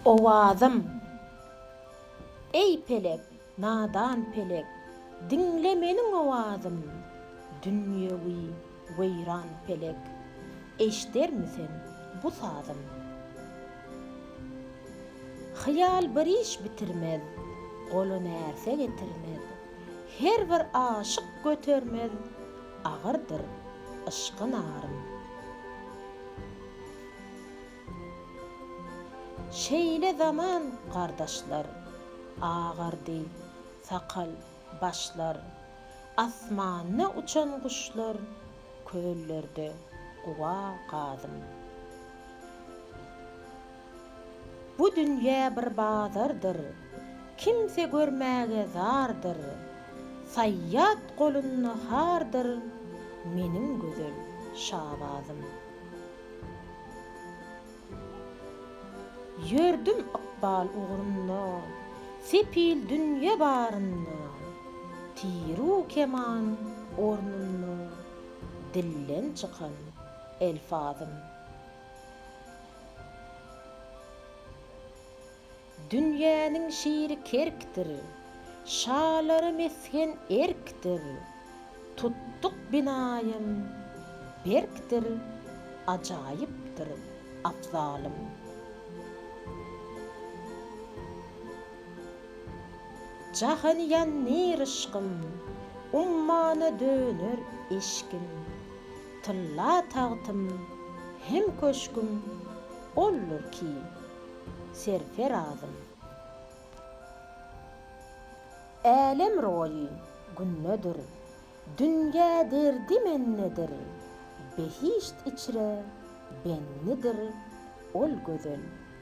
Owazym, Eý pelek, nadan pelek, Diňle meniň owazym, Dünýewi weýran pelek, Eşdermi sen bu sazym? Hyýal bir iş bitirmez, Gola närse getirmez, Her bir aşyk götermez, Agyrdyr yşky narym. Şeýle zaman gardaşlar, Agardy sakal, başlar. Asmanda uçan guşlar, Köllerde guba gadym. Bu dünýä bir bazardyr, Kimse görmäge zardyr, Saýýat golunda hardyr, Meniň gözel Şabazym. Ýördüm ykbal ugrunda, sepil dünýe barynda, Tiru keman ornunda, dilden çykan elfazym. Dünýäniň şiri kerkdir. Şalara mesgen erkdir. Tutduk binaýam berkdir. Ajaýypdyr abzalym. Jahany ýandyr yşkym. Ummana döner eşgim. Tylla tagtym hem köşgüm oldur ki. serferazym. Älem roýy gündedir, dünýä derdi mendedir, behişt içre bendidir ol gözel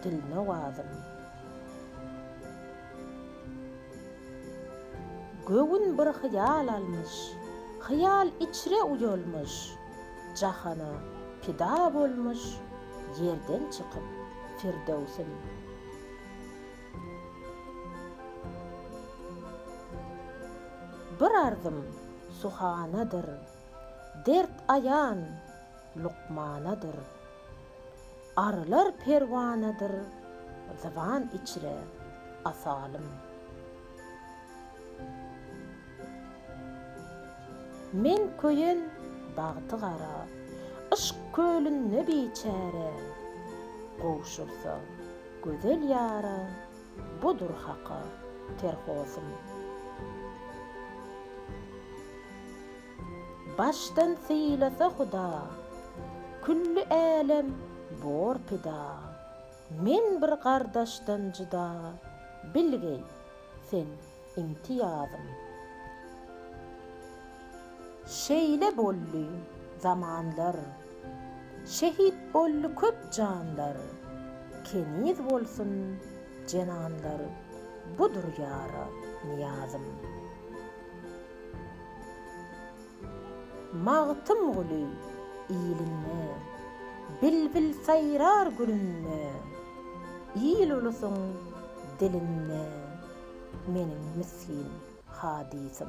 dilnowazym. Göwün bir hyýal almyş, hyýal içre uýalmyş. Jahana pida bolmuş ýerden çykyp Firdöwsüm. Bir arzym suhanadyr, dert aýan lukmanadyr. Arylar perwanadyr, zyban içre asalym. Men köýen bagty gara. Yşk kölünde biçäre. Gowşursa gözel ýara. Budur haka terhosym. Başdan sylasa huda. Külli älem bor pida. Men bir gardaşdan jyda. Bilgeý sen imtiýazym. Şeýle boldy zamanlar, şehit boldy köp janlar, keniz bolsun jenanlar, budur ýara nyýazym. Magtymguly ilinde, bilbil saýrar gülünde, il-ulusyň dilinde meniň misgin hadysym.